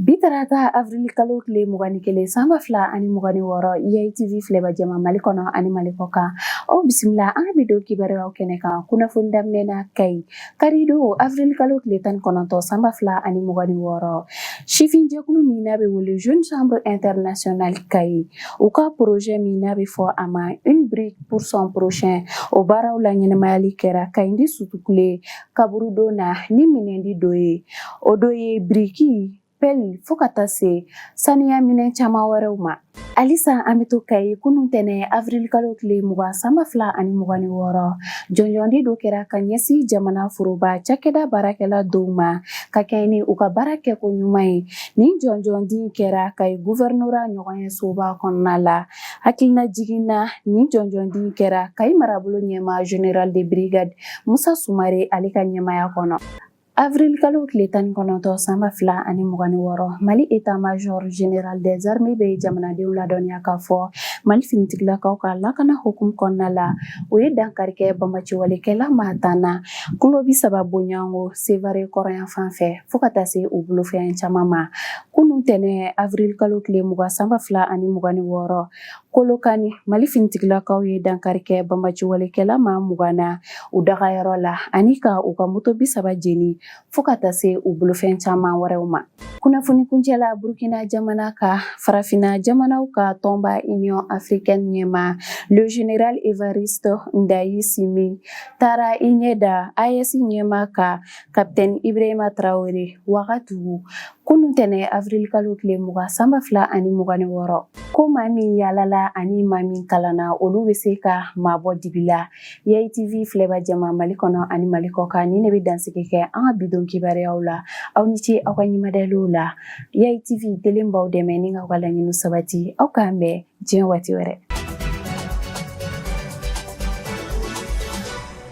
Bi tarata avril kalo tile mugan ni kelen sanba fila ani mugan ni wɔɔrɔ Yayi TV filɛba jama mali kɔnɔ ani mali kɔ kan aw bisimila an ka bi don kibaruyaw kɛnɛ kan kunnafoni daminɛ na Kayi karidon avril kalo tile tan ni kɔnɔntɔn sanba fila ani mugan ni wɔɔrɔ sifinjɛkulu min n'a bɛ wele Jeune Chambre Internationale Kayi u ka projet min n'a bɛ fɔ a ma une brique pour son prochain o baaraw laɲɛnamayali kɛra Kayindi Sutukule kaburudon na ni minɛndi dɔ ye o dɔ ye biriki pɛli fɔɔ ka taa se saniya minɛn caman wɛrɛw ma halisa an bɛ to kayi kunu tɛnɛ avirilikalo tile mugan sanba fila ani mugan ni wɔɔrɔ jɔnjɔndi dɔ kɛra ka ɲɛsin jamana foroba cakɛda baarakɛla dɔw ma ka kɛɲɛ ni u ka baara kɛko ɲuman ye nin jɔnjɔndi kɛra kayi guvɛrinora ɲɔgɔnye soba kɔnɔna la Hakilina jiginna nin jɔnjɔndi kɛra Kayi marabolo ɲɛmaa général de brigade musa sumare ale ka ɲɛmaya kɔnɔ avril kalo tile tan ni kɔnɔntɔn sanba fila ani mugan ni wɔɔrɔ mali état-major général des armées bɛ jamanadenw ladɔnniya k'a fɔ mali finitigilakaw ka lakana hukumu kɔnɔna la u ye dankari kɛ banbaanciwalekɛla maa tan na kilo bi saba bonyago Sevare kɔrɔnyanfan fɛ fo ka taa se u bolofɛn caman ma Kunun tɛnɛn avril kalo tile mugan sanba fila ani mugan ni wɔɔrɔ Kolokani mali finitigilakaw ye dankari kɛ banbaanciwalekɛla maa mugan na u dagayɔrɔ la ani ka u ka moto bi saba jeni fo ka taa se u bolofɛn caman wɛrɛw ma kunnafoni kuncɛ la burukina jamana kan farafinna jamanaw ka tɔnba Union africaine ɲɛmaa le général Evariste Ndayishimiye taara i ɲɛ da AES ɲɛmaa kan Capitaine Ibrahima Traore, Wagadugu, kunun tɛnɛ avril kalo tile mugan san ba fila ani mugan ni wɔɔrɔ. Ko maa min yaalala ani maa min kalanna, olu bɛ se ka maa bɔ dibi la. Yayi TV filɛba jama Mali kɔnɔ ani Mali kɔkan, nin ne bɛ dansigi kɛ an ka bi don kibaruyaw la. Aw ni ce aw ka ɲɛmadaliw la. Yayi TV delen b'aw dɛmɛ ni k'aw ka laɲiniw sabati. Aw k'an bɛn diɲɛ waati wɛrɛ.